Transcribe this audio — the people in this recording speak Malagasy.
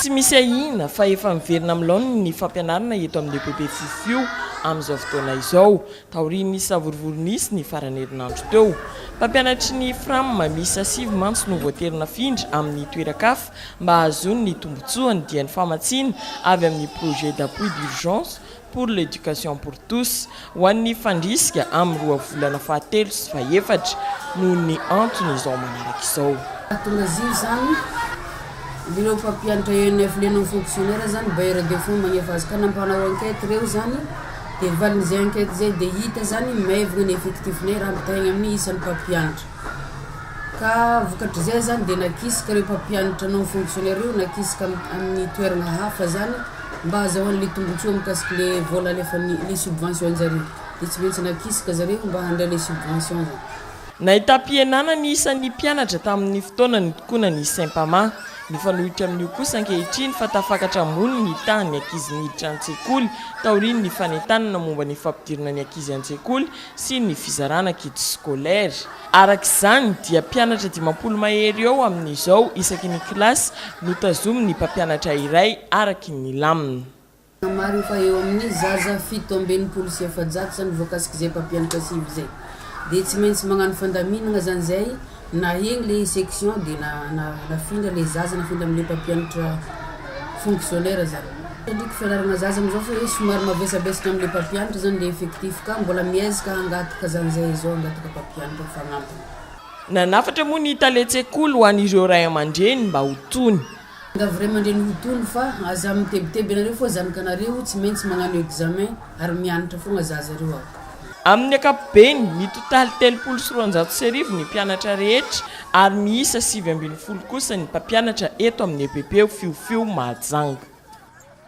Tsy misy ahiana fa efa miverina amin'ny laoniny ny fampianarana eto amin'ny EPP Fofio amin'izao fotoana izao, taorian'ny savorovoro nisy ny faran'ny herinandro teo. Mpampianatry ny Fram miisa sivy mantsy no voatery nafindra amin'ny toeran-kafa mba hahazoany ny tombontsoany dia ny famatsiana avy amin'ny projet d'appui d'urgence pour l'éducation pour tous, ho an'ny fandrisika amin'ny roa volana fahatelo sy fahefatra, noho ny antony izao manaraka izao. Mahatonga azy io izany, indrindra ho mpampianatra ENF liana amin'ny fonctionnaire izany, bailleur de fonds magnefa azy ka na mpanao enquête ireo izany dia valin'izay enquête izay dia hita izany maivagna ny effectif-nay raha ampitahaigna amin'ny isan'ny mpampianatra. Ka vokatr'izay zany dia nakisaka ireo mpampianatra non fonctionnaires ireo nakisaka amin'ny toerana hafa zany mba hazahoany le tombotsoa mikasika le vola alefan'ny le subvention zareo de tsy maintsy nakisaka zareo mba handray le subvention zany. Nahitam-pihenana ny isan'ny mpianatra tamin'ny fotoana nitokoana ny Sempama. Mifanohitra amin'io kosa ankehitriny fa tafakatra ambony ny tahan'ny ankizy niditra an-tsekoly taorian'ny fanentanana momba ny fampidirana ny ankizy an-tsekoly sy ny fizarana kits scolaires. Araka izany dia mpianatra dimampolo mahery eo amin'izao isaky ny kilasy no tazomin'ny mpampianatra iray araka ny lamina. Namariny fa eo amin'ny zaza fito amby enimpolo sy efajato izany voakasik'izay mpampianatra sivy izay. Dia tsy maintsy magnano fandaminagna zany zay na egny le section dia na nafindra le zaza nafindra amle mpampianatra fonctionnaire zany. Tandriko fianarana zaza amizao fa hoe somary mavesabesatra amle mpampianatra zany le effectif ka mbola miezka hangataka zany zay izao hangataka mpampianatra ho fagnampiny. Nanafatra moa ny tale tsekoly ho an ireo ray amandreny mba ho tony. Miangavy ray amandreny ho tony fa aza mitebiteby anareo foa zanakanareo tsy maintsy magnano examen ary mianatra fogna zaza reo a. Amin'ny ankapobeny, mitotaly telopolo sy roanjato sy arivo ny mpianatra rehetra ary miisa sivy ambin'ny folo kosa ny mpampianatra eto amin'ny EPP Fiofio Mahajanga.